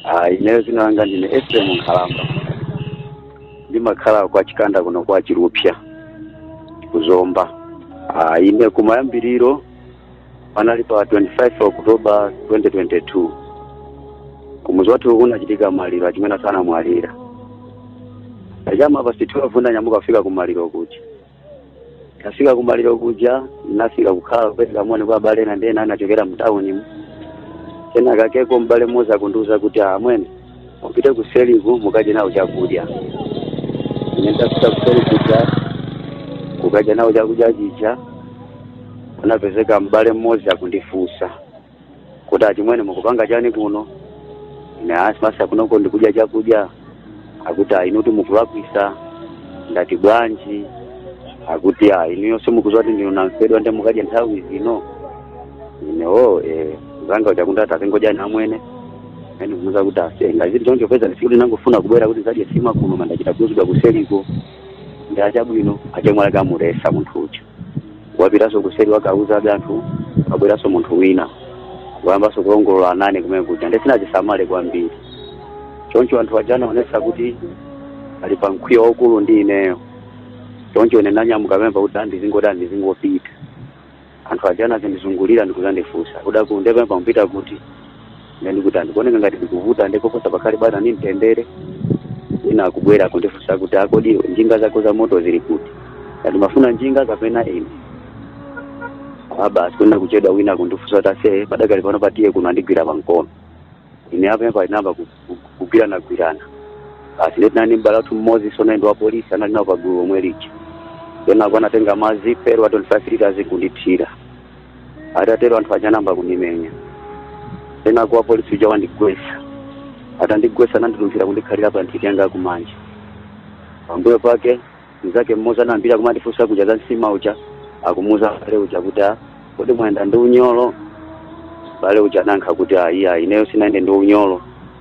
Ah, ineyo dzina langa ndine Ephraim Nkhalamba. Ndimakhala kwa Chikanda kuno kwa Chirupsya ku Zomba. Ah, ine kumayambiriro panali pa 25 October 2022. Kumuzi wathu kunachitika maliro achimwene athu anamwalira. Chama pa 12 ndanyamuka kufika ku maliro kuja. ntafika kumaliro kuja nafika kukhala kupereka moni kwa abale ena ndi ena anachokera mtaunimu kenakakeko mbale mmodzi akundiuza kuti amwene mupite kuseriku mukadye nawo chakudya ine ndafika kuseri kuja kukadya nawo chakudya chija kunapezeka mbale mmodzi akundifunsa kuti achimwene mukupanga chani kuno ine a zimatsa kunoko ndikudya chakudya akuti ayi inuti mukulakwisa ndati bwanji akuti ayi inuyo simukuziwa kuti ndinu namfedwa nde mukadye nthawi zino ine o eh, zanga kuti akuti ati azingodyani amwene ene kumuza kuti ase ngazili choncho peza nsikuti nangofuna kubwera kuti ndizadye sima kuno koma ndachita kuuzidwa kuseriko ndi achabwino achimwene kamuletsa munthu uja wapitaso kuseri wakauza anthu wabweraso munthu wina wayambaso kulongolola nane kumene kuja nde sinazisamale kwambiri choncho anthu aja anaonesa kuti ali pa mkwiyo waukulu ndi ineyo choncho ine nanyamuka pemba kuti andizingoti andizingopita anthu aja anazindizungulira ndikuzandifunsa kuti akulu nde pena mupita kuti ine ndikuti a ndikuoneka ngati ndikuvuta ndikoposa pakhale bwino ni mtendere ina akubwera kundifunsa kuti kodi njinga zako zamoto zili kuti ngati mafuna njinga kapena ine a basi kunena kuchedwa wina kundifunsa kuti ase padakali pano patiye kuno andigwira pankono ine apa apa inayamba ku- ku- kugwirana gwirana basi ndetinani mbale wathu mmodzi tsono ndi wapolisi anali nawo pagulu omwe lija kenako anatenga madzi pelo wa 25 liters kundithira atatero anthu aja anayamba kundimenya kenako wapolisi uja wandigwesa atandigwesa anandilumphira kundikhalira pa nthiti yanga yakumanja pambuyo pake mnzake mmodzi amene anayambira kumandifunsa kuja za nsima uja akumuuza mbale uja kuti "Ah, kodi mwayenda ndi unyolo mbale uja anayankha kuti ayi ayi ineyo sinayende ndi unyolo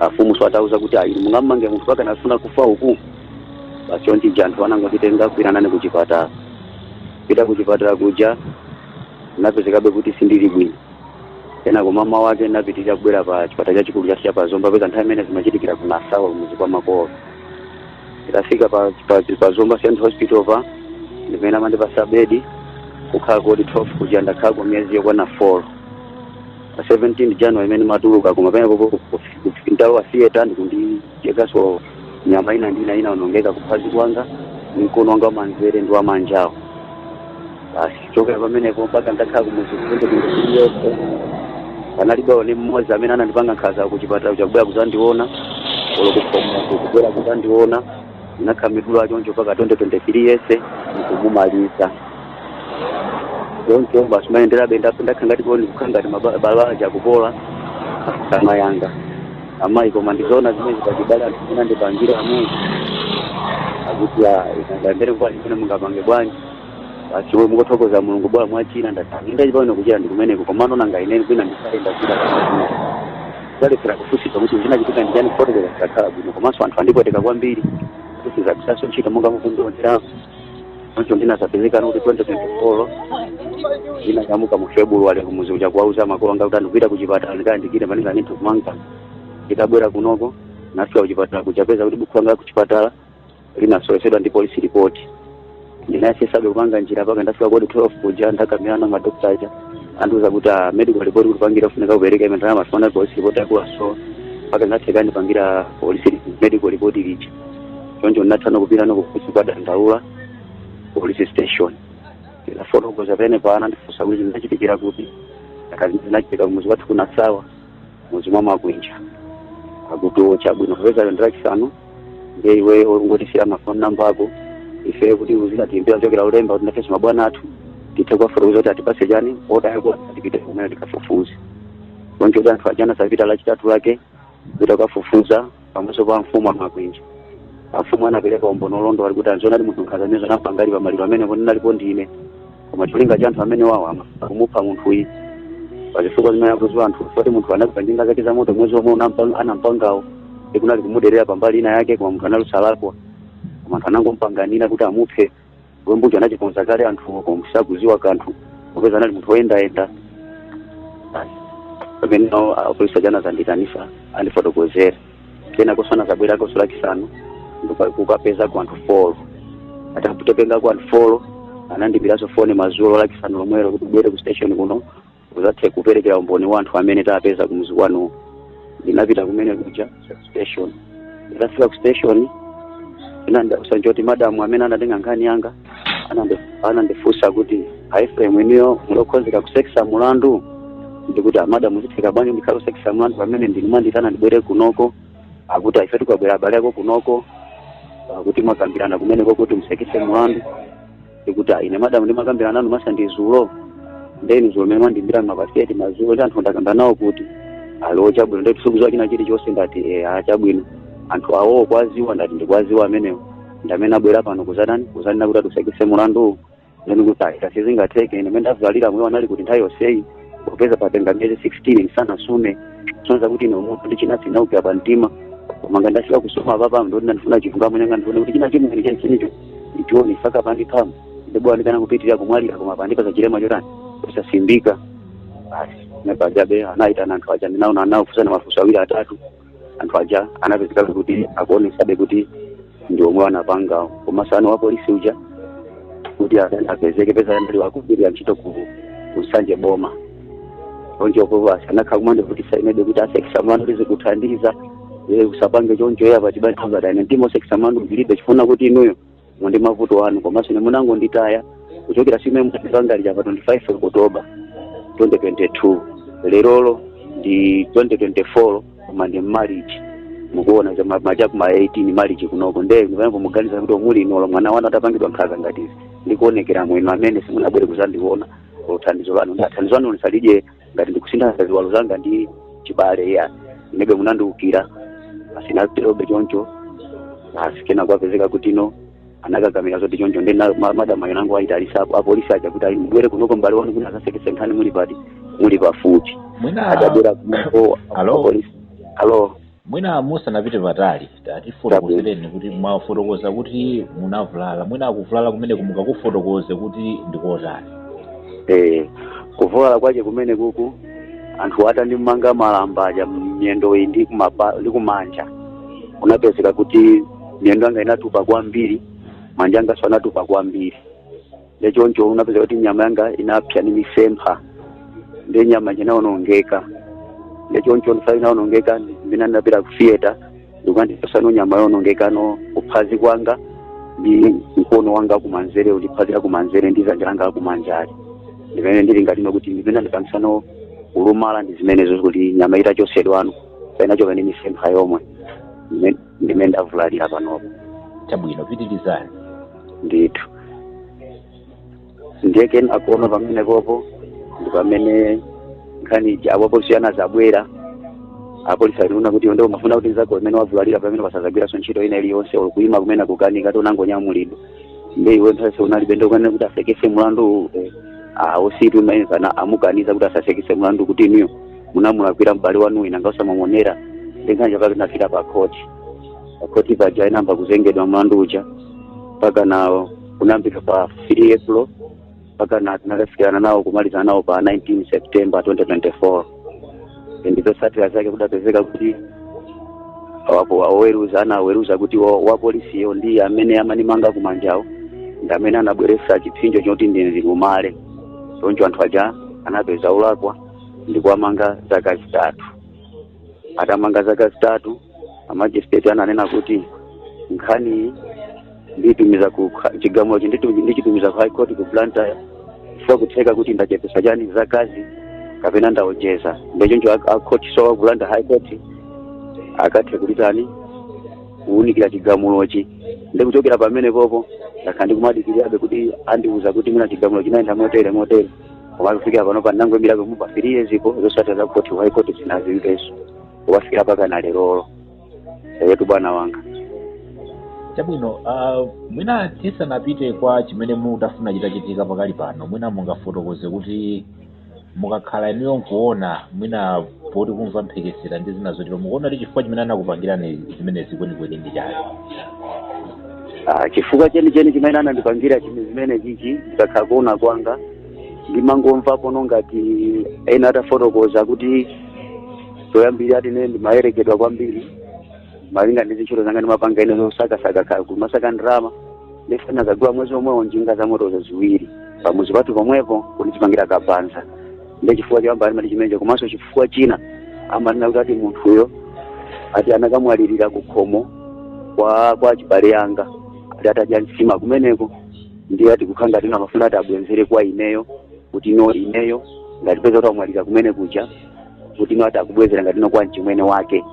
afumu tsono atawauza kuti ayi mungammange munthu pakuti anafuna kufa uku basi chonchi anthu anangonditenga kuthamanga nane kuchipatala pita kuchipatala kuja napezekabe kuti sindili bwino kenako mama wake napitiriza kubwera pa chipatala chachikulu chathu cha pa Zomba peza nthawi imene zimachitikira ku Nasawa kumuzi kwa makolo nditafika pa, pa, pa Zomba Central Hospital paja ndi pamene anandipasa bedi kukhala ku wodi 12 kuja ndakhalako miyezi yokwana 4 pa 17 january imene ndimatuluka koma pamenepo ndalowa theater ndikundichekaso nyama ina ndi ina inaonongeka kuphazi kwanga ni mkono wanga wamanzere ndi wamanjawo basi chokera pamenepo mpaka ndakhala kumuzi kunde kundiyese panalibe olo ni mmodzi amene anandipanga nkhaza kuchipatala chakubwera kuzandiona olo kukhomo kubwera kuzandiona ndinakhala ndikudwala choncho mpaka 2023 yese ndikumumaliza choncho basi ndimayendera benda ndakhala ngati koni kukhala ngati mabala akupola kama yanga amayi koma ndizoona zimene zikachibala anthu zinandipangira amene akuti ikangambere kwani imene mungapange bwanji basi iwe mukuthokoza mulungu bwa mwachira ndatani ndachi pamene kuchira ndi kumeneko komano nanga ineni kwina ndisayenda kuchira zalefera kufunsitsa kuti zinachitika ndi chani kufotokoza zisakhala bwino komanso anthu andipweteka kwambiri sindizagwiranso ntchito monga mukundionerapo choncho ndinazapezeka nokuti 2024 ndinanyamuka mu february kumuzi kuja kuwauza makolo anga kuti a ndipita kuchipatala ndikayandikire panenga ninthu kumanga nditabwera kunoko ndafika kuchipatala kuzapeza kuti bukhu langa kuchipatala linasowetsedwa ndi polisi lipoti ndinayesesabe kupanga njira paka ndafika ku wodi 12 kuja ndakumana na madokta aja andiuza kuti a medical report tikupangire kufunika kupereka ime ndalama sifana polisi report akulaso paka zatheka andipangira polisi medical report lija choncho ndinathana kupirana kukusi kukadandaula polisi station ndafotokoza pamenepa anandifunsa kuti zinachitikira kuti nkhazazi zinachitika kumuzi kwathu ku nasawa mudzi mwa makwinja akuti o chabwino popeza lero ndilachisanu ndiye iweyo ungotisiyira mafoni namba ako ife kuti uzikatiimbira kuchokera lolemba kuti nafenso mabwana athu tithe kuwafotokoza kuti atipase chani oda yakuti tipite kumene tikafufuze choncho kuti anthu aja anazapita lachitatu lake kupita kukafufuza pamaso pa mfumu a makwinja afumu anapereka umboni olondola kuti a zoonadi munthu nkhaza zimenezo anampangadi pamaliro amenewo ndinalipo ndi ine koma cholinga cha anthu amenewawa kumupha munthuyi pazifukwa zimene akuziwa anthu poti munthu anagula njinga zake za moto mwezi omwe anampa- anampangawo ikunali kumuderera pambali ina yake koma munthu anali wosalakwa koma anthu anangompanganira kuti amuphe chiwembucho anachikonza kale anthuwo koma sakuziwa kanthu popeza anali munthu woyendayenda Basi. pamene nawo apolisi aja anazandiitanisa andifotokozera kenakoso anazabwerakoso lachisanu ndikuka- kukapezako anthu folo atakatengako anthu folo anandiimbiraso foni mazulo lachisanu lomwelo kuti ubwere ku station kuno uzathe kuperekera umboni wa anthu amene tapeza kumuzi kwanuwo ndinapita kumene kuja ku station nditafika ku station chinandidabwisa nchoti madamu amene anatenga nkhani yanga anandi- anandifunsa kuti a efrem inuyo muli okonzeka kusekesa mulandu ndikuti amadamu zitheka bwanji ndikhala kusekesa mulandu pamene ndinu mwanditana ndibwere kunoko akuti a ifetu abwera abale ako kunoko akuti mwakambirana kumeneko kuti musekese mulandu ndikuti "Ah, ine madamu ndimakambirana nanu masa ndi zulo ndeni zulo mene mwandimbira ma past 8 mazulo ndi anthu ndakamba nawo kuti alo chabwino ndati sikuziwa china chilichonse ndati e a chabwino anthu awowo ukuwaziwa ndati ndikuwaziwa amenewo ndamene abwera pano kuzatani kuzanena kuti atsekese mulandu ndeni kuti ayi sizingatheke ine mene ndavulalira imwe munali kuti nthawi yonseyi kupeza patenga miyezi 16 ndisanasume kusonyeza kuti ine umunthu ndi china sinaupya pa mtima koma nga ndafika kusuma apapa ndoti ndandifuna chilungamo nyanga ndifuna kuti china chimwe chenichenicho ndichione saka pandiphamu ndibwa ndikana kupitirira kumwalira koma andipasa chilema chotani kusasimbika basi nde apajabe anaitana anthu aja ndinaona anafunsana mafunso awiri atatu anthu aja anapezekabe kuti akuonesabe kuti ndi omwe anapanga koma tsono wapolisi uja kuti aka- apezeke peza anali wakugwirira ntchito ku Nsanje boma choncho okuva sanakha kumanda kuti sainebe kuti asekese mlandu kuti sizikuthandiza ye usapange choncho ya pachibale angadane ndimo sekisa mlandu zilibe chifuna kuti inuyo ndi mavuto anu komanso ine munangonditaya kuchokera siku limene mwapangalira pa 25 okutoba 2022 lerolo ndi 2024 koma ndi mmalichi mukuona kuti ma- macha kuma 18 malichi kunoko nde pano muganiza kuti olo muli inuyo mwana wanu atapangidwa nkhaza ngati izi ndikuonekera mwina amene simunabwere kuzandiona olo thandizo lanu ndathandizo lanu lisalidye ngati ndikusintha ziwalo zanga ndi chibale ya inebe munandiukira basi naterobe choncho basi kena kwapezeka kuti no anakakamira zoti choncho ndi na- ma- madam ayo nangu ayitanisa apo apolisi aja kuti ayi mubwere kunoko mbale wanu kuti akasekese nkhani muli pati muli pafupi mwina atabwera kunoko Hello? apolisi alo Mwina musanapite patali tatifotokozereni kuti mwafotokoza kuti munavulala mwina kuvulala kumeneko mungakufotokoze kuti ndikotani Eh, kuvulala kwache kumene kuku anthu atandimanga malamba aja miyendo iyi ndi kumapa- ndi kumanja kunapezeka kuti miyendo yanga inatupa kwambiri manja anganso anatupa kwambiri nde choncho kunapezeka kuti nyama yanga inapsa ni misempha nde nyama inawonongeka nde choncho ndifa inawonongeka mina ndinapita ku theater ndikukandipasano nyama yowonongekano kuphazi kwanga ndi mkono wanga kumanzere ndi phazi la kumanzere ndi zanja langa lakumanjali ndimene ndili ngati kuti zimene zandipangisano kulumala ndi zimenezo kuti nyama itachosedwano inachoka ndi misempha yomwe ndimene ndavulalira panopo chabwino pitirizani ndithu ndiye kenako no pamenepopo ndi pamene nkhani ija apolisi anazabwera apolisi aliona kuti ndio mafuna kuti nzako mmene wavulalira pamene sazagwiranso ntchito ina iliyonse olo kuima kumene akukanika anangonyamulidwa ndiye iwe nthawi unalibe ndio kanene kuti asekese mlandu uwu, eh, ah usitu imene kana amukaniza kuti asasekese mlandu kuti inuyo munamulakwira m'bale wanu wina mwina osamuonera ndi nkhani chapake tinafika pa khoti pakhoti paja inayamba kuzengedwa mlandu uja mpaka nawo kunayambika pa 3 april mpaka na tinakafikirana nawo kumalizana nawo pa 19 september 2024 ndi zotsatira zake kudapezeka kuti wapo- oweruza anaweruza kuti wa- wapolisiyo ndi amene amandimanga kumanjawo ndi amene anabweretsa chipsinjo choti ndilumale choncho anthu aja anapezeka olakwa ndikuwamanga zaka zitatu atamanga zaka zitatu amajisitireti ananena kuti nkhani iyi nditumiza ku kha- chigamulochi nditu- ndichitumiza ku high court ku blantyre chifukwa kutheka kuti ndachepesa chani zakazi kapena ndaonjeza nde choncho a- a court so wa ku blantyre high court akathe kuti tani kuwunikira chigamulochi ndikuchokera pamenepopo ndakhala ndikumadikirirabe kuti andiwuze kuti mwina chigamulo chinayenda motere motere koma kufikira pano pano ndangoimirabe mu pa three years po zotsatira za koti high court sindinazimvenso kukafikira mpaka na lerolo eyetu bwana wanga chabwino uh, mwina tisanapite kwa chimene mukufuna chitachitika pakali pano mwina mungafotokoze kuti mukakhala inuyo nkuona mwina poti kumva mphekesera ndi zina zotero mukuona kuti chifukwa chimene anakupangirani zimenezi kwenikweni ndi chani Ah, chifukwa chenicheni chimene anandipangira chinthu chimenechichi ndikakhala kuona kwanga ndimangomvapo ngati ena atafotokoza kuti zoyambirira ati ine ndimayerekedwa kwambiri malinga ndi zintchito zanga ndimapanga ine zosakasaka kumasaka ndalama ndiye ndinadzagula mwezi omwewo njinga za motozo ziwiri pamudzi pathu pomwepo kundichipangira kabaza ndi chifukwa choyamba ali ati chimenecho komanso chifukwa china amanena kuti ati munthuyo ati anakamwalirira ku khomo kwa kwa achibale anga ati atadya nsima kumeneko ndiye ati kukhala ngati ino amafuna ati abwezere kwa ineyo kuti ino ineyo ngati poti amwalira kumenekuja kuti ino ati akubwezera ngati ino kwa mchimwene wake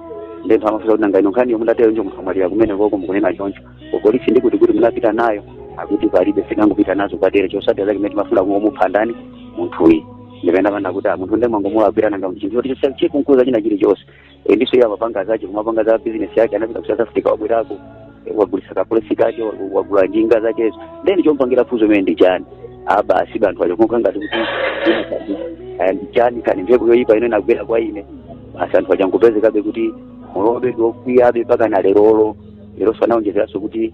nde anthu amafunsa kuti nanga ino nkhani yomwe ili teroyo munthu amwalira kumenekoko mukunena choncho kupolisi ndikuti kuti munapita nayo akuti palibe tinangopita nazo kwadera zotsatira zake mmene mumafuna kungomupha ndani munthuyi ndipeza pano kuti munthu nde munangomulakwira nanga chinthu kuti chisa chikukhudza china chili chonse ndiponso iye amapanga zache kumapanga za bizinesi yake anapita ku south africa wabwerako wagulisa ka place kake wagula njinga zakezo then chomupangira nkhanza imene ndi chani basi anthu aja kukhala ngati kuti ndi chani kaya mphepo yoyipa ino inagwera kwa ine basi anthu aja angopezekabe kuti mmalo mwake ndiokwiyabe mpaka na lerolo iwonso anaonjezeranso kuti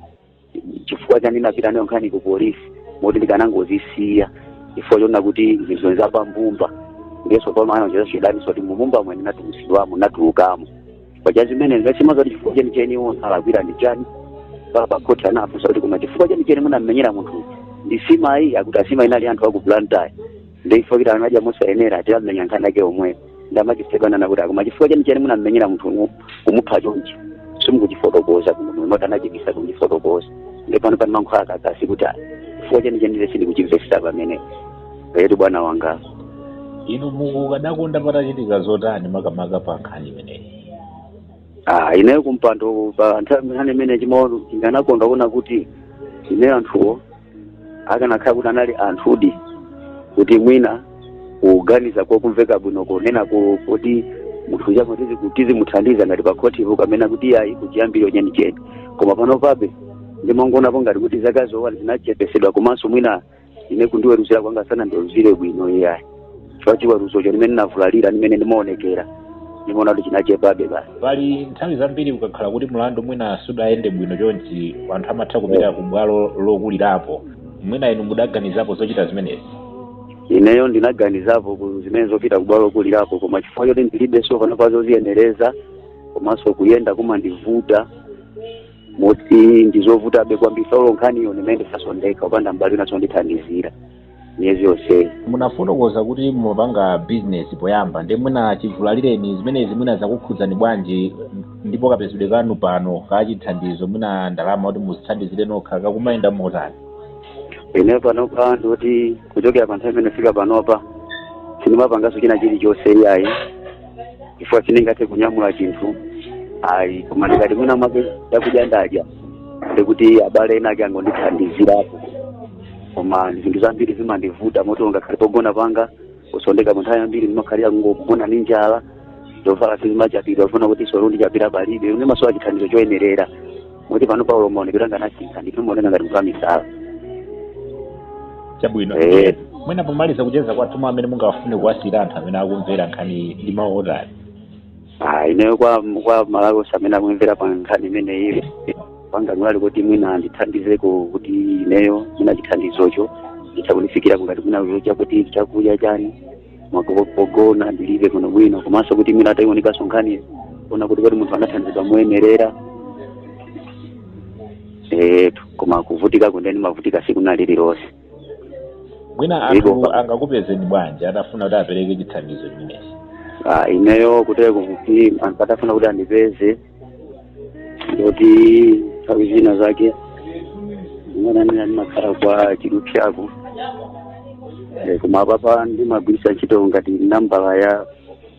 chifukwa chani ndinapita nayo nkhani ku polisi moti ndikanangozisiya chifukwa chonena kuti zinthu zonse zapambumba ndiyenso pano anaonjeza chidaninso kuti mumbumba mwene ndinatulutsidwamo ndinatulukamo paja zimene ndingatsimikize kuti chifukwa cheni cheni iwo ndalakwira ndi chani mpaka pakhoti anafunsa kuti koma chifukwa cheni cheni munammenyera munthu ndi nsimayi akuti a nsimayi anali anthu aku blantyre ndiye ifeyo kuti anaja mosayenera ati amenya nkhani yake omwe ndamachisekana nakuti akoma chifukwa chenicheni munammenyera munthu kumupha chonchi simukuchifotokoza kuno moti anachibisa kundifotokoza ndipo panopa ndimakhala kakasi kuti "Ah, chifukwa chenicheni sindikuchimvesesa pamenepa yeti bwana wanga inu mukadakonda patachitika zotani makamaka pa nkhani imeneyi Ah, ineyo kumpando pa nkhani imeneyi mmene ndimaona ndikanakonda kuona kuti ine anthuwo akanakhala kuti anali anthudi kuti mwina kuganiza kokumveka bwino kunena kuti munthuyu tizimuthandiza ngati pakhotipo kapena kuti iyayi kuchiyambiro kwenikweni koma panopabe ndimangoonapo ngati kuti zakazo zinachepesedwa komanso mwina ine kundiweruzira kwanga sanandiweruzire bwino iyayi chifukwa chiweruzocho ndi mmene ndinavulalira ndi mmene ndimaonekera ndimaona kuti chinachepabe basi pali nthawi zambiri kukakhala kuti mlandu mwina sudayende bwino chonchi anthu amatha kupita ku bwalo lokulirapo mwina inu mudaganizapo zochita zimenezi ineyo ndinaganizapo zimenezo zopita kubwalo lokulirapo koma chifukwa choti ndilibe so panopa zoziyenereza komanso kuyenda kumandivuta moti ndizovutabe kwambiri so olo nkhaniyo ndi mmene ndikusowekera kupanda abale anga kundithandizira miyezi yonseyi munafotokoza kuti mumapanga bizinesi poyamba ndi mwina chivulalireni zimenezi mwina zakukhudzani bwanji ndipo kapezedwe kanu pano kachithandizo mwina ndalama kuti muzithandizire nokha kakumayenda motani ine panopa ndikuti kuchokera pa nthawi imeneyo kufika panopa sindimapanganso china chilichonse iyayi chifukwa sindingathe kunyamula chinthu ayi koma ndikati mwina mwake chakudya ndadya ndikuti abale ena ake angondithandizirapo koma zinthu zambiri zimandivuta moti ngakhale pogona panga kusoweka nthawi yambiri ndimakhalira kungogona ndi njala zovala sizimachapidwa kufuna kuti sopo ndichapire palibe ndimasowa chithandizo choyenerera moti panopa olo maonekedwe anga anasintha ndipo ndimaoneka ngati munthu wamisala chabwino Eh. Ndiye, mwina pomaliza kucheza kwathu mawu amene mungawafune kuwasiyira anthu amene akumvera nkhani ndi mawu otani Ah, ineyo kwa aMalawi amene akumvera pa nkhani imeneyi panga ngati kuti mwina andithandizeko kuti ineyo mwina chithandizocho chitandifikira ngati mwina uyo chakuti chakudya chani mwa pogona ndilibe kuno bwino komanso kuti mwina ataiunikaso nkhani kuona kuti kuti munthu anathandizidwa moyenerera etu koma kuvutika kokha nde ndimavutika siku nalililonse mwina anthu angakupezeni bwanji atafuna kuti apereke chithandizo chimenechi Ah, ineyo kuteko kuti anthu atafuna kuti andipeze ndikuti nthawi zina zake ndimakhala kwa chidupsyako Eh, koma apapa ndimagwiritsa ntchitoko ngati nambala ya